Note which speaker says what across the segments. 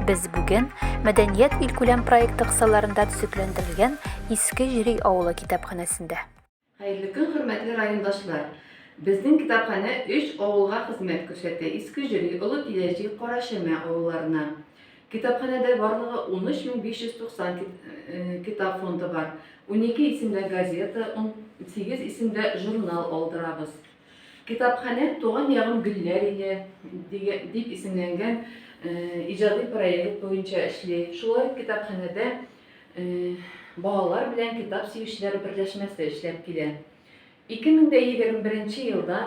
Speaker 1: Без бүген Мәдәният илкүләм проекты кысаларында төзекләндерелгән Иске Җири авылы китапханәсендә. Хәерле көн,
Speaker 2: хөрмәтле райондашлар! Безнең китапханә өч авылга хезмәт күрсәтә, Иске Җири, Олы Пиләҗи, Кара Чәмә авылларына. Китапханәдә барлыгы 13590 китап фонды бар. Унике исемдә газета, унсигез исемдә журнал алдырабыз. Китапханә Туган ягым гөлләр иле дип исемләнгән иҗади проект буенча эшли. Шулай ук китапханәдә балалар белән китап сөючеләр берләшмәсе эшләп килә. 2021 елда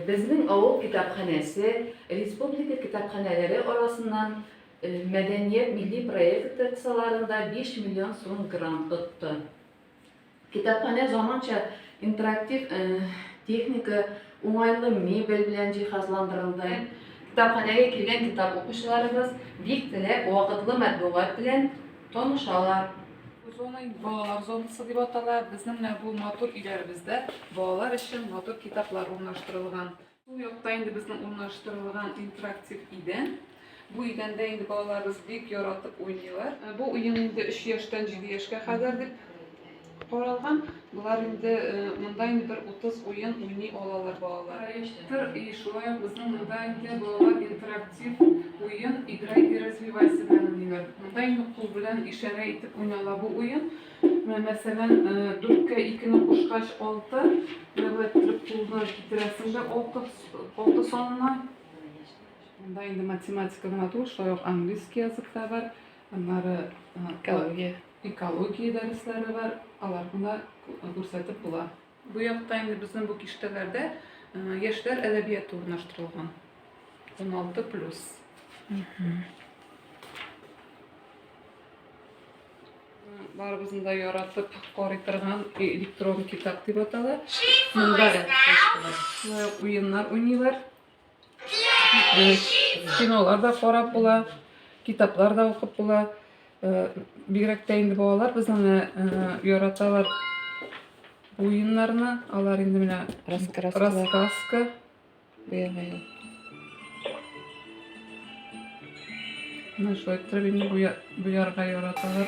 Speaker 2: безнең авыл китапханәсе республика китапханәләре арасыннан мәдәният милли проекты кысаларында 5 миллион сум грант отты. Китапханә заманча интерактив техника, уңайлы мебель белән җиһазландырылды. Китапханәгә килгән китап укучыларыбыз бик теләп, вакытлы матбугат белән танышалар. Бу зона инде
Speaker 3: балалар зонасы дип атала. Безнең менә бу матур өйләребездә балалар өчен матур китаплар урнаштырылган. Бу якта инде безнең урнаштырылган интерактив идән. Бу идәндә инде балаларыбыз бик яратып уйныйлар. Э, бу уен инде 3 яшьтән 7 яшькә кадәр дип каралган. Болар инде э, монда инде бер 30 уен уйный алалар балалар. Тыр и шулай ук безнең монда инде балалар интерактив уен играй и развивайся белән уйныйлар. Монда инде кул белән ишарә итеп уйнала бу уен. Күпме, мәсәлән, дүрткә икене кушкач, алты, менә иттереп кулны китерәсең дә алты, алты санына. Монда инде математика гына түгел, шулай ук английский язык та бар, аннары экология, экология дәресләре бар, аларны күрсәтеп була. Бу якта инде безнең бу киштәләрдә яшьләр әдәбияты урнаштырылган. 16 плюс. Барыбызны да яратып карый торган электрон китап дип атала. Монда да уеннар уйныйлар. Кинолар да карап була, китаплар да укып була. Бигрәк тә инде балалар безне яраталар уеннарны. Алар инде менә раскраска. Буягайлар. Менә шулай иттереп инде буярга яраталар.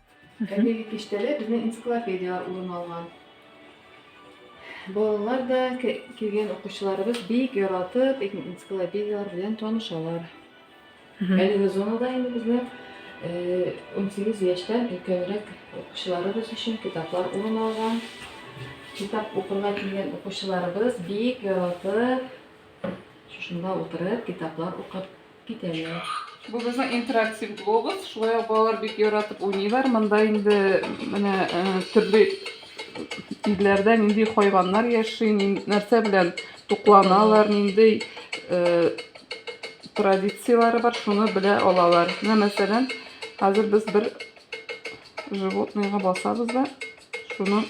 Speaker 2: Әлеге киштәдә безнең энциклопедияләр урын алган. Балалар да килгән укучыларыбыз бик яратып энциклопедияләр белән танышалар. Әлеге зонада инде безнең 18 яшьтән өлкәнрәк укучыларыбыз өчен китаплар урын алган. Китап укырга килгән укучыларыбыз бик яратып шушында утырып китаплар укып Китәләр. Бу безнең
Speaker 3: интерактив глобус. Шулай ук балалар бик яратып уйныйлар. Монда инде менә э, төрле илләрдә нинди хайваннар яши, нәрсә белән тукланалар, нинди э, традицияләре бар, шуны белә алалар. Менә мәсәлән, хәзер без бер животныйга басабыз да, шуның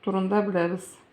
Speaker 3: турында беләбез.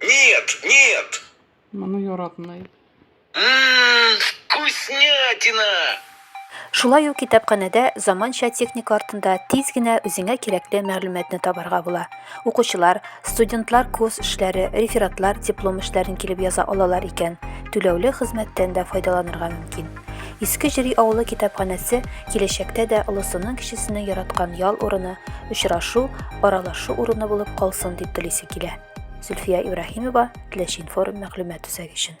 Speaker 3: Нет,
Speaker 4: нет! Моны
Speaker 3: яратмый. Ммм,
Speaker 4: вкуснятина!
Speaker 1: Шулай ук китапханәдә заманча техника артында тиз генә үзеңә кирәкле мәгълүматны табарга була. Укучылар, студентлар курс эшләре, рефератлар, диплом эшләрен килеп яза алалар икән, түләүле хезмәттән дә файдаланырга мөмкин. Иске Җери авылы китапханәсе киләчәктә дә олысының кечесенең яраткан ял урыны, очрашу, аралашу урыны булып калсын дип телисе килә. Зөлфия Ибраһимова, Теләчинформ мәгълүмат үзәге өчен.